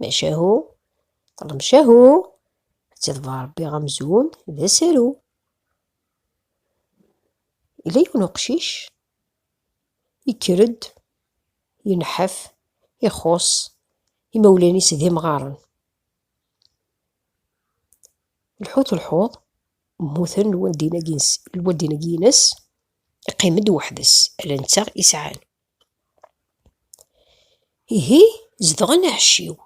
Maca ahu, maca ahu, ttidba Ṛebbi amzun d asaru. Yella yiwen uqcic yekker-d, yenḥaf, ixuṣṣ, imawlan-is d imɣaren. Lḥut lḥuḍ, mmuten lwaldin-agi-ines, lwaldin-agi-ines, iqqim-d weḥd-s, ala netta i sɛan. Ihi zedɣen aɛecciw.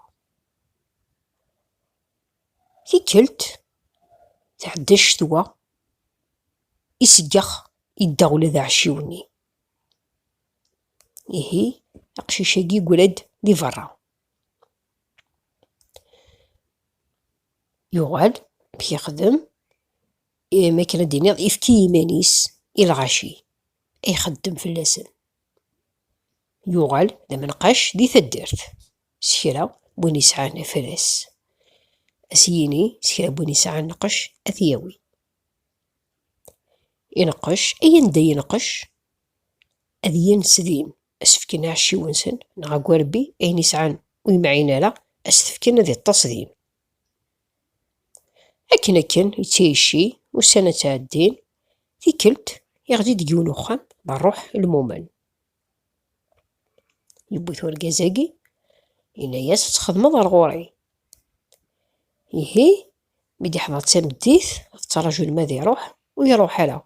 Tikkelt, tɛedda ccetwa, iseggex, idda ula d aɛecciw-nni. Ihi aqcic-agi yeggra-d di berra. Yuɣal, amek yexdem? Imi akken ad d-iniɣ, ifki iman-is i lɣaci ay ixeddem fell-asen. Yuɣal d amenqac di taddart, s kra n win yesɛan afras, ad s-yini, s kra n win yesɛan lqec, ad t-yawi. Ineqqec, ay anda yenqec, ad yens din, ad s-fken aɛecciw-nsen neɣ agerbbi, ayen yesɛan ur yemɛin ara, ad s-t-fken ad iṭṭes din. Akken akken i tt-icci, ussan-a ttɛeddin, tikkelt iɣli deg yiwen uxxam d rruḥ lmumen. Yewwi-t urgaz-agi, yenna-yas ad txedmeḍ ar ɣur-i. Ihi mi d-iḥḍer d tameddit, tettraǧu lma ad iruḥ, ur iruḥ ara.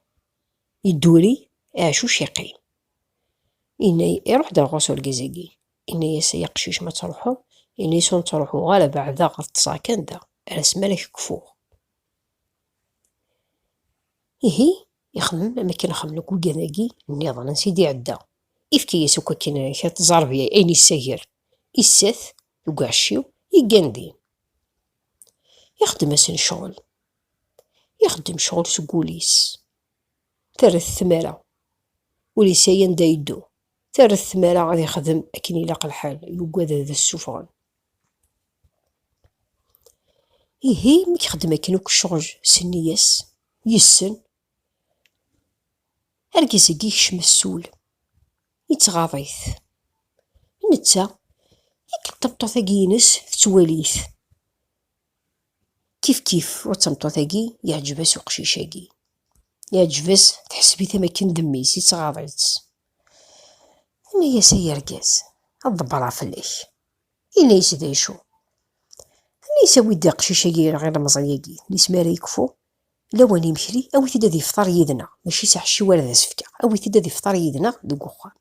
Yedduri, iɛcuc yeqqim. Yenna, iruḥ d rɣus urgaz-agi. Yenna-yas, ay aqcic ma ttruḥeḍ, yenna-yas ur ttruḥuɣ ara, beɛdeɣ, ad ṭṭseɣ kan da, ar asmi ara k-kfuɣ. Ihi, ixemmem am akken xemmen akk wigad-agi nniḍen, ansi d-iɛedda. Ifka-yas akk akken kra tẓarbya, ayen yessager, isat deg uɛecciw, yeggan din. Ixeddem-asen ccɣel. ixeddem ccɣel seg wul-is. Terret tmara. Ur yesɛi anda yeddu. Terret tmara ad ixdem akken ilaq lḥal, yugad ad as-suffɣen. Ihi, mi yexdem akken akk ccɣel s nniya-s, yessen, argaz-agi yekcem asul, yettɣaḍ-it. Netta, akken tameṭṭut-agi-ines tettwali-t. Kif kif, ur d tameṭṭut-agi, yeɛǧeb-as uqcic-agi. Yeɛǧeb-as, teḥseb-it am akken d mmi-s, yettɣaḍ-itt. Tenna-yas, ay argaz, ad ḍebbreɣ fell-ak. Yenna-yas, d acu? Tenna-yas, awi-d aqcic-agi neɣ ilemẓi-agi, tis mi ara yekfu lawan imekli, awi-t-id ad ifṭer yid-neɣ, mačči s aḥecciw ara d as-fkeɣ, awi-t-id ad ifṭer yid-neɣ deg uxxam.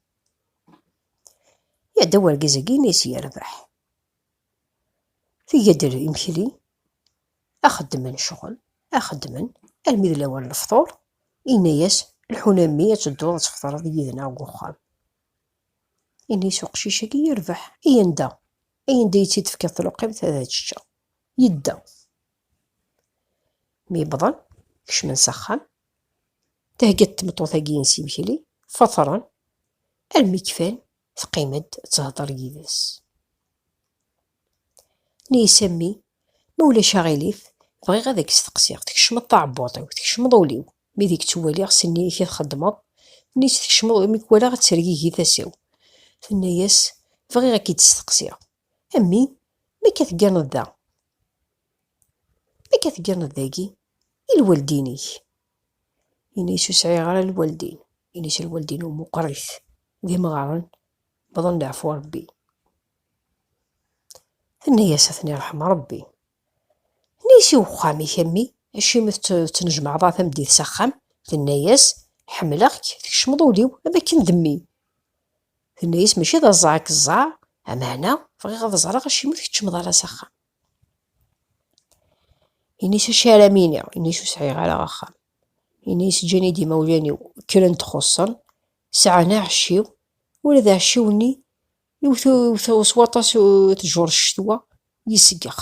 Iɛedda urgaz-agi, yenna-yas, yerbeḥ. Tga-d imekli, ad xeddmen ccɣel, ad xeddmen almi d lawan n lefṭur, yenna-yas, lḥun a mmi ad tedduḍ ad tefṭreḍ yid-neɣ deg uxxam. Yenna-yas uqcic-agi yerbeḥ, ay anda, ay anda i tt-id-tefkiḍ tluqimt ad ččeɣ. Yedda. Mi wwḍen, kecmen s axxam, thegga-d tmeṭṭut-agi-ines imekli, fṭren, almi kfan, Teqqim-d tettheddeṛ yid-s. Neyis a mmi, ma ulac aɣilif, bɣiɣ ad ak-steqsiɣ, tkecmeḍ taɛebbuḍt-iw, tkecmeḍ ul-iw, mi deg tt-waliɣ s nnig-k i txeddmeḍ, nnig-s tkecmeḍ imi k-walaɣ ad tergigi tasa-w. Tenna-yas, Bɣiɣ a k-id-steqsiɣ, a mmi, mi akka tegganeḍ da, mi akka tegganeḍ dagi i lwaldin-ik, Ini-as ur sɛiɣ ara lwaldin. Ini-as lwaldin-iw meqqrit, d imɣaren, wwḍen leɛfu n Rebbi. Tenna-as, ad ten-iṛḥem Rebbi. Ini-as i wexxam-ik, a mmi, acimi tettnejmaɛeḍ a tameddit s axxam? Tenna-as, ḥemmleɣ-k, tkecmeḍ ul-iw am akken d mmi. Tenna-as, mačči d aẓẓaɛ i k-ẓẓaɛeɣ, ameɛna bɣiɣ ad ẓreɣ acimi ur tkeččmeḍ ara s axxam. Ini-s acu ara m-iniɣ, ini-s ur sɛiɣ ara axxam. Ini-s ǧǧan-iyi-d imawlan-iw kren txuṣṣen, sɛan aɛecciw, ula d aɛecciw-nni iwet s waṭas tjur ccetwa, yesgex,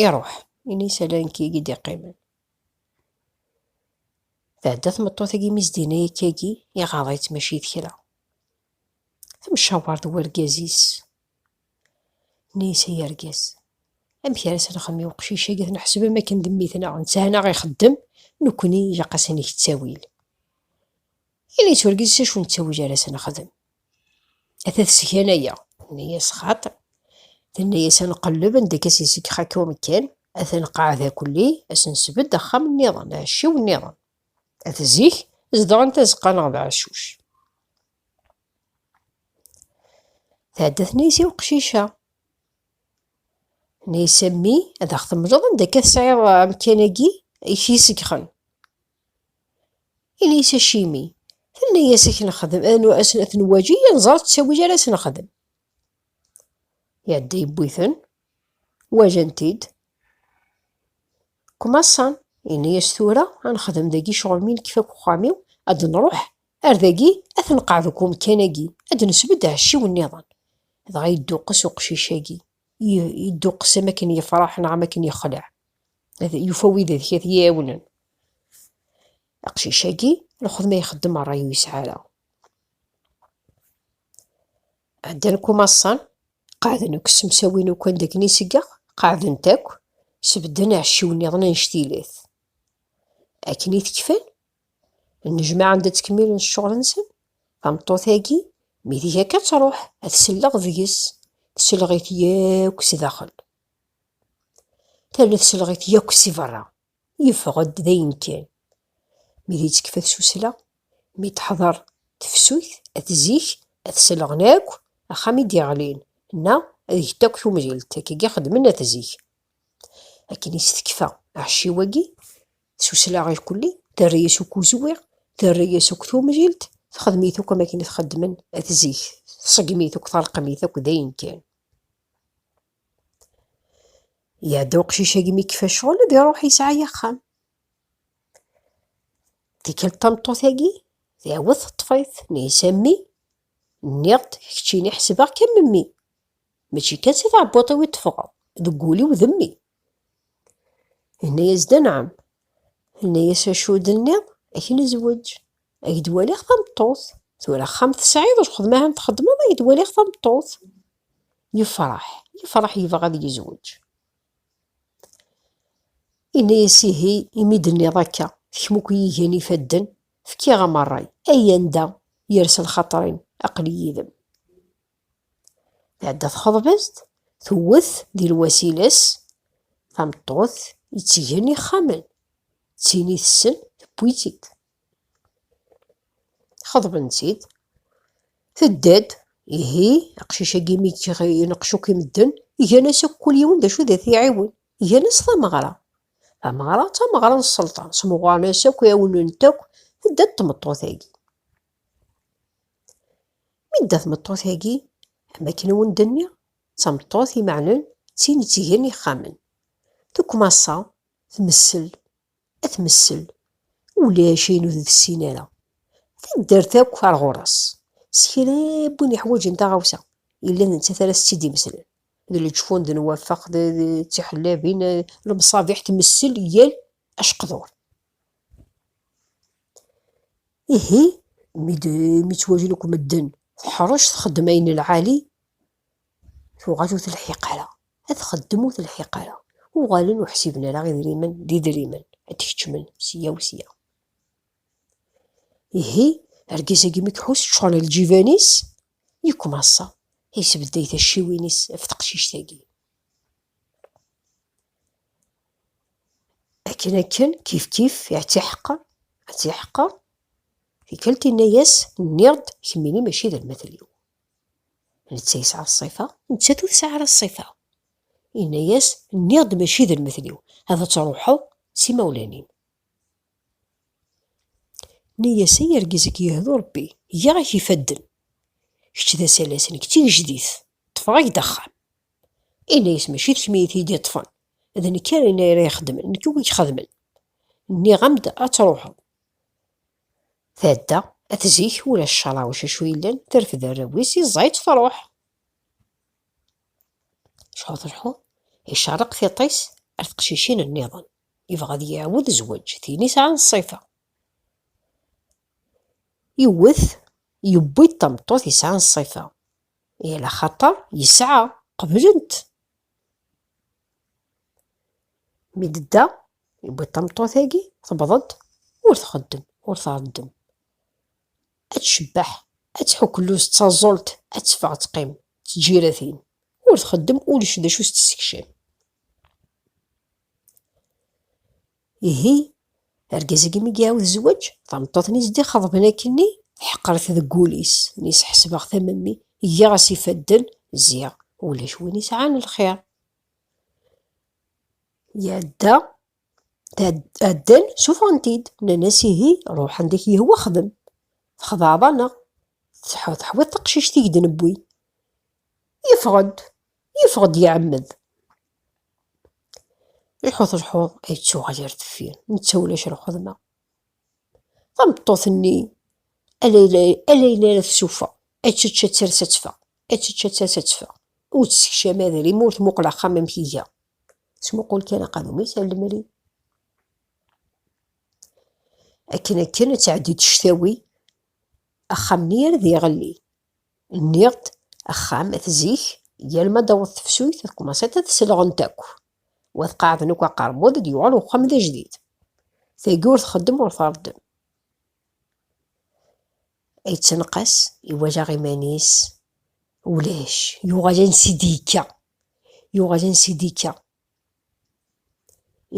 iruḥ. Ini-s ala nekk i yi-d-iqqimen. Tɛedda tmeṭṭut-agi mi s-d-yenna akka-agi, iɣaḍ-itt mačči d kra. Temcaweṛ d urgaz-is. Neysa yergez. Amek ara s-nxemmem i uqcic-agi t-neḥseb am akken d mmi-tneɣ, netthan-aɣ ixeddem, nekkni ilaq ad s-neg ttawil. Yella yetturgez s acu n ttawil ara s-nexdem. Ata tesgan-aya, tenna-yas xaṭi. Tenna-yas ad nqelleb anda akka s iseg xakka umekkan, ad t-nqeɛɛed akelli, ad s-nesbedd axxam nniḍen, aɛecciw nniḍen. At zik, zedɣen tazeqqa neɣ d aɛeccuc. Tɛedda tnaysi i uqcic-a. Naysi a mmi, ad aɣ-temleḍ anda akka tesɛiḍ amkan-agi i k-yesgxen. Ini-as acimi. Tenna-yas ad k-nexdem, ad ten-waǧi, ad nẓer ttawil ara s-nexdem. Iɛedda yewwi-ten, wajan-t-id. Kumaṣan, ini-as tura ad nexdem dagi ccɣel mi nekfa deg uxxam-iw, ad nruḥ Ar dagi, ad tenqeɛ deg umkan-agi, ad d-nesbedd ɛecciw nniḍen. Dɣa yedduqqes uqcic-agi, yedduqqes am akken yefreḥ neɣ am akken yexleɛ. Yufa wid ad t-iɛiwnen. Aqcic-agi, lxedma ixeddem ṛṛay ur yesɛi ara. Ɛeddan kumaṣṣan, qeɛden akk ssemsawin akk anda akken iseggeɣ, qeɛden-t akk, sbedden ɛecciw nniḍen annect-ilat. Akken i t-kfan, Nnejmaɛ anda ttkemmilen cceɣl-nsen, tameṭṭut-agi, mi tga akka ad truḥ, ad tselleɣ deg-s, tselleɣ-it yakk si daxel. Terna tselleɣ-it yakk si berra, yeffeɣ-d d ayen kan. Mi d yettekfa tsusla, mi teḥḍer tefsut, at zik, ad selleɣen akk axxam i d-yeɣlin, neɣ ad get akk tumlilt, akkagi xeddmen at zik. Akken i s-tekfa aɛecciw-agi, s uslaɣ ilkulli, terra-yas akk uzwiɣ, terra-yas akk tumjilt, texdem-it akk am akken i t-xeddmen at zik, tṣeggem-it akk, terqem-it akk d ayen kan. Iɛedda uqcic-agi mi kfa ccɣel, ad iruḥ yesɛa axxam. Tikkelt tameṭṭut-agi, tɛawed teṭṭef-it, neyes a mmi, nniɣ-d keččini ḥesbeɣ-k am mmi, mačči kan si tɛebbuṭ-iw i d-teffɣeḍ, deg wul-iw d mmi. Yenna-yas-d anɛam. Yenna-yas acu d-tenniḍ, ad k-nezweǧ. Ad k-d-waliɣ tameṭṭut. Tura axxam tesɛiḍ, lxedma ahan txeddmeḍ, ad k-d-waliɣ tameṭṭut. Yefreḥ, yefreḥ yebɣa ad yezweǧ. Yenna-yas ihi, imi d-tenniḍ akka, kemm akk yigan ifadden, fkiɣ-am ṛṛay. Ay anda yersa lxaṭer-im, aql-i yid-m. Tɛedda txeḍbezt, tewwet di lwasilas tameṭṭut yettgen ixxamen, d tin i tessen tewwi-tt-id. Xeḍben-tt-id, tedda-d, ihi aqcic-agi mi ineqc akk i medden, igan-as akk kul yiwen d acu d at-iɛiwen, igan-as tameɣra. Tameɣra d tameɣra n sselṭan, smuɣaren-as akk, ɛiwnen-t akk, tedda-d tmeṭṭut-agi. Mi tedda tmeṭṭut-agi, am akken i wen-d-nniɣ, d tameṭṭut imeɛnen, d tin ittgen ixxamen. Tukkmaṣa, tmessel, ad tmessel, ulac ayen ur d-tessin ara. Taddart akk ar ɣur-s, s kra n win iḥwaǧen taɣawsa, yella d nettat ara s-tt-id-imeslen. D leǧfun, d nwafeq, d tiḥellabin, lemṣabiḥ, tmessel yal aceqdur. Ihi, mi ttwagen akk medden, teḥṛec txeddem ayen n lɛali, tuɣal ur telḥiq ara. Ad txeddem ur telḥiq ara. Uɣalen ur ḥsiben ara idrimen d idrimen, ad d-keččmen sya u sya. Ihi, argaz-agi mi iḥuss ččuṛen lǧiban-is, yekmaṣa, yesbedday tacciwin-is ɣef teqcict-agi. Akken akken, kifkif, iɛtiḥeqer, ɛtiḥeqer, tikkelt inna-yas, nniɣ-d kemmini mačči d almatel-iw. Netta yesɛa ṣṣifa, nettat ur tesɛi ara ṣṣifa. Inna-yas, nniɣ-d mačči d almatel-iw, ad truḥeḍ s imawlan-im. Nni-yas, ay argaz i k-yehdu Rebbi, giɣ-ak ifadden, kečč d asalas, nekk d tigejdit. Ṭṭfeɣ-ak-d axxam. Yenna-yas, Mačči d kemm i yi-t-id-iṭṭfen, d nekk ara yenna ara ixeddmen, nekk i wi-ixedmen. Nniɣ-am-d ad truḥeḍ. Tɛedda at zik, ulac carawic acu yellan, terfed arraw-is, yeẓẓa-itt, truḥ. Cḥu telḥu, icerreq tiṭ-is ar teqcicin nniḍen, yebɣa ad yiɛwed zzwaǧ, tin i sɛan ṣṣifa. Yewwet, yewwi-d tameṭṭut yesɛan ṣṣifa. I la xaṭer yesɛa, qeblent. Mi d-tedda, yewwi tameṭṭut-agi, tewweḍ-d, ur txeddem, ur tɛeddem. Ad tcebbeḥ, ad tḥukluz d taẓult, ad teffeɣ ad teqqim d tǧiratin, ur txeddem, ulac d acu s-tessekcem. Ihi, argaz-agi mi iɛawed zzwaǧ, tameṭṭut-nni zedixeḍben akkenni, teḥqer-it deg wul-is, nis ḥesbeɣ tamemmi, giɣ-as ifadden, ziɣ ulac win isɛan lxir. Iɛedda, ɛeddan, sufɣen-t-id, nnan-as ihi, ruḥ anda k-yehwa xdem, txedɛeḍ-aneɣ, teḥwiḍ taqcict i k-d-newwi. Yeffeɣ-d, Yeffeɣ-d iɛemmed. Iḥut lḥuḍ ay yettuɣal ar deffir, netta ulac lxedma. Tameṭṭut-nni ala yella ara tsuffeɣ, ad tečč ad ters ad teffeɣ, ad tečč ad ters ad teffeɣ. Ur tessekcam adrim, ur tmuqel axxam amek iga. Tesmuqul kan aqadum-is ar lemri. Akken akken ad tɛeddi-d ctawi, axxam-nni ar d iɣelli. Nniɣ-d, axxam, at zik, yal ma d-taweḍ tefsuyt, ad kmaṣit ad selɣent akk, u ad qaɛden akk aqermud, ad yuɣal uxxam d ajdid. Tagi ur txeddem ur tṛeddem. Yettenqas, iwajaɣ iman-is, ulac, yuɣal ansi d-yekka, yuɣal ansi d-yekka.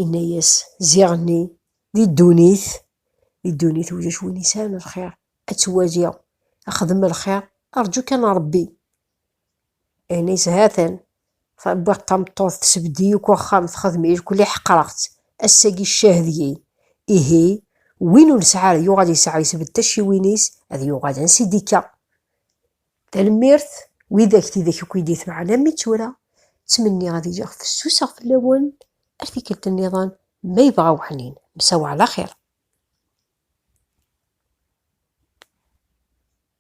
Inna-yas, Ziɣenni, di ddunit, di ddunit ulac win isɛan lxir, ad twali, ad xdem lxir, rǧu kan Ṛebbi. Inna-yas, Ha-t-an, wwiɣ-d tameṭṭut, tessebded-iyi akk axxam, texdem i lkul, i ḥeqreɣ-tt, ass-agi ccah deg-i. Ihi, win ur nesɛi ara, yuɣal yesɛa, yessebded tacciwin-is, ad yuɣal ansi d-ikka. Tanemmirt widak tidak akk i d-itebɛen am i tura, ttmenniɣ ad iliɣ fessuseɣ fell-awen ar tikkelt nniḍen ma yebɣa weḥnin, msawa ɛla xir.